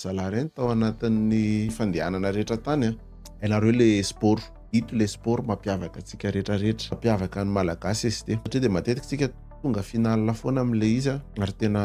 Zalahy reny tao anatin'ny fandehanana rehetra tany a. Hainareo le sport. Ito le sport mampiavaka antsika rehetra rehetra. Mampiavaka ny Malagasy ST. Satria dia matetika tsika tonga finale foana amle izy a. Ary tena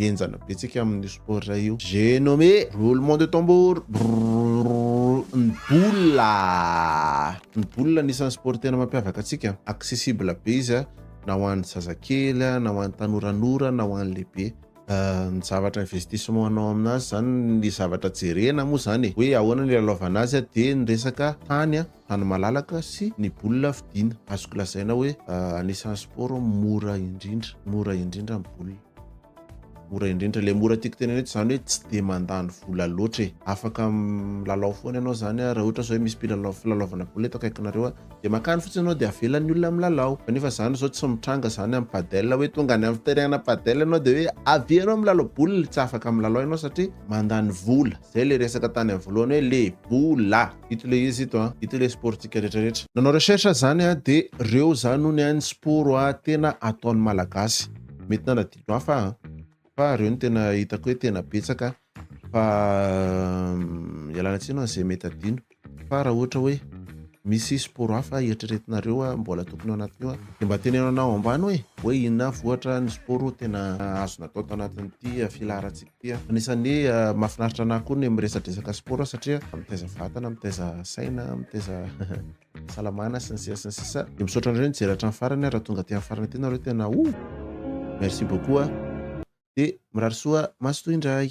henjana be tsika amin'io sport io. J'ai nommé, roulement de tambour, brrrr, ny boula. Ny boula anisan'ny sport tena mampiavaka antsika. Accessible be izy a, na ho an'ny zazakely, na ho an'ny tanoranora, na ho an'ny lehibe. ny zavatra investissement anao amin'azy zany ny zavatra jerena moa zany e hoe ahoana ny lalaovana azy dia ny resaka tany a tany malalaka sy ny bola fidina azoko lazaina hoe anisan'ny sport mora indrindra mora indrindra ny bola mora indrindra le mora tiako tenena eto zany hoe tsy de mandany vola loatra e afaka milalao foana ianao zany a raha ohatra zao hoe misy mpilalao filalaovana bola eto akaikinareo a Dia makany fotsiny ianao dia avelan'ny olona milalao. Fa nefa izany izao tsy mitranga izany amin'ny padel hoe tonga any amin'ny terrain-na padel ianao dia hoe avia ianao milalao boule. Tsy afaka milalao ianao satria mandany vola. Izay ilay resaka tany amin'ny voalohany hoe le bola. Ito ilay izy ito an! Ito ilay sport-ntsika rehetrarehetra. Nanao recherche aho izany an! Dia ireo izany hono an ny sport tena ataon'ny Malagasy. Mety nanadino hafa aho an! Fa ireo no tena hitako hoe tena betsaka Fa ialana tsiny hoan' izay mety adino. Fa raha ohatra hoe misy sport hafa eritreretinareo a mbola tokony ao anatin'io a de mba teneno anah ao ambany hoe hoe inona avy ohatra ny sport tena azony atao tao anatin'ity filaharantsika ity a. Anisan'ny mahafinaritra anah koa ny miresadresaka sport satria mitaiza vatana, mitaiza saina, mitaiza Salamana sy ny sisa sy ny sisa. Dia misaotra anareo nijery hatramin'ny farany raha tonga aty amin'ny farany aty nareo tena oh! Merci beaucoup a. Dia mirary soa maso toy indray.